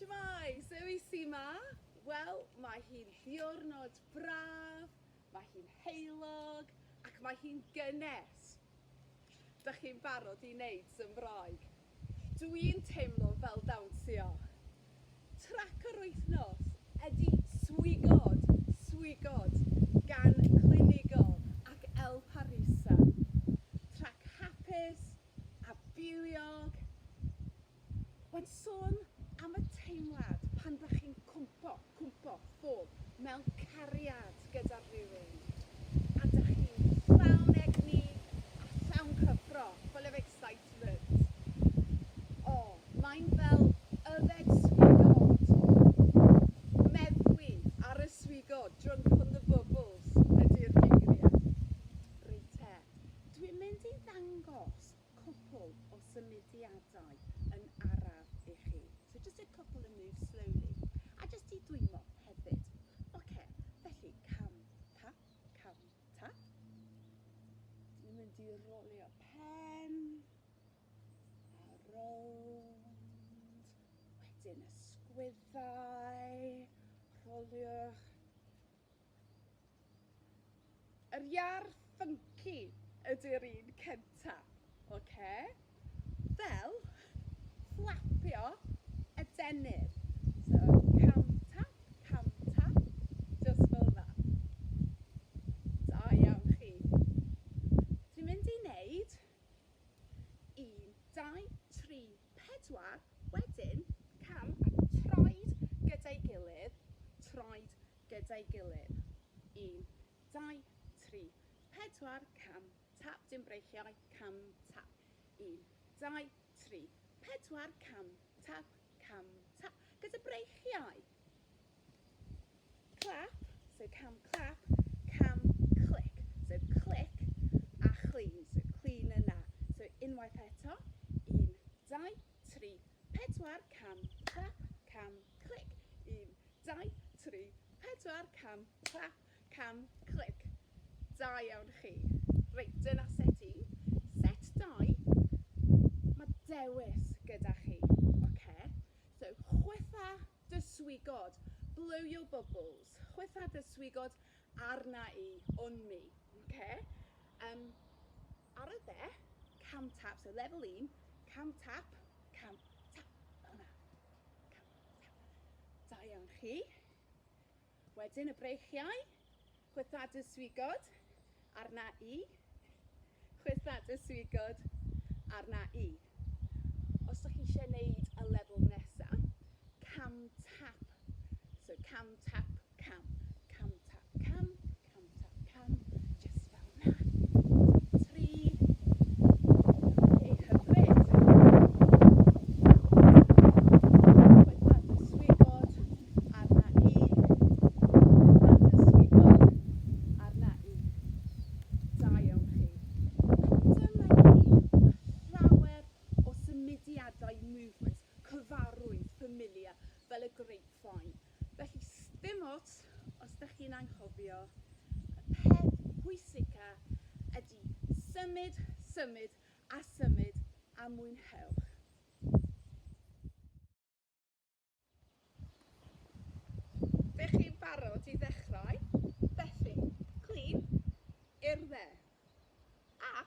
Shwmae! Zoe sy 'ma? Wel, mae hi'n ddiwrnod braf, mae hi'n heulog ac mae hi'n gynnes! Dych chi'n barod i wneud sym Roeg? Dw i'n teimlo fel dawnsio! Trac yr wythnos ydy Swigod, Swigod gan Clinigo ac El Parisa. Trac hapus a bywiog! Ond sôn am y teimlad pan dach chi'n cwmpo, cwmpo, ffwb, mewn cariad gyda rhywun, a dach chi'n llawn egni a llawn cyffro, full of excitement. O, mae'n fel yfed swigod, meddwi ar y swigod, drunk on the bubbles ydi'r geiriau. Reit te, dwi'n mynd i ddangos cwpwl o symudiadau yn araf i chi. So just a couple and move slowly. A jyst i dwymo hefyd. Ocê, felly cam ta, cam ta. Dyn ni'n mynd i rolio pen. A rownd. Wedyn ysgwyddau. Rholiwch. Yr iar ffynci ydy'r un cynta, oce? Fel fflapio adenydd. So, cam tap, cam tap, jyst fel 'na. Da iawn chi. Dwi'n mynd i neud un, dau, tri, pedwar, wedyn. Cam, a troed gyda'i gilydd, troed gyda'i gilydd. Un, dau, tri, pedwar, cam, tap, dim breichiau, cam, tap. Un, dau, tri, pedwar, cam, tap, cam, tap. Gyda breichiau! Clap, so cam clap, cam clic, so clic, a clean, so clean yna. So unwaith eto, un, dau, tri, pedwar, cam clap, cam clic, un, dau, tri, pedwar, cam clap, cam clic. Da iawn chi. Reit, dyna set un. Set dau, mae dewis gyda chi, oce? Okay? So, chwytha dy swigod, blow your bubbles, chwytha dy swigod arna i, on me, ok? Yym, ar y dde, cam tap, so lefel un, cam tap, cam tap, fel yna, cam tap. Da iawn chi. Wedyn y breichiau, chwytha dy swigod, arna i, chwytha dy swigod, arna i. Os dych chi eisiau neud y lefel nesa, cam tap, so cam tap cam, cam tap cam, Cant ar cam, jyst fel na. Tri. Hyfryd. Llawer o symudiadau movements cyfarwydd familiar fel y grapevine. Felly, sdim ots os dych chi'n anghofio, y peth pwysica ydy symud, symud a symud a mwynhewch! Dych chi'n barod i ddechrau? Felly, clîn i'r dde. A.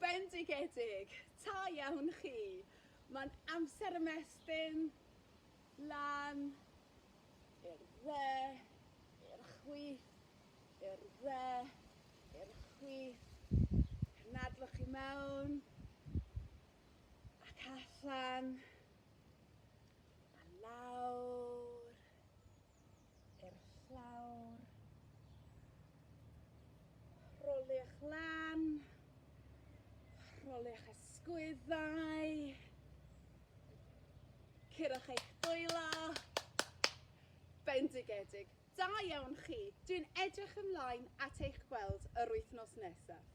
Bendigedig! Ta iawn chi! Mae'n amser ymestyn lan i'r dde, i'r chwith, i'r dde, i'r chwith. Cynadwch i mewn ac allan a lawr. i'r llawr. Roli'ch lan. Roli'ch ysgwyddau. Curwch eich dwylo. Bendigedig. Da iawn chi. Dwi'n edrych ymlaen at eich gweld yr wythnos nesaf.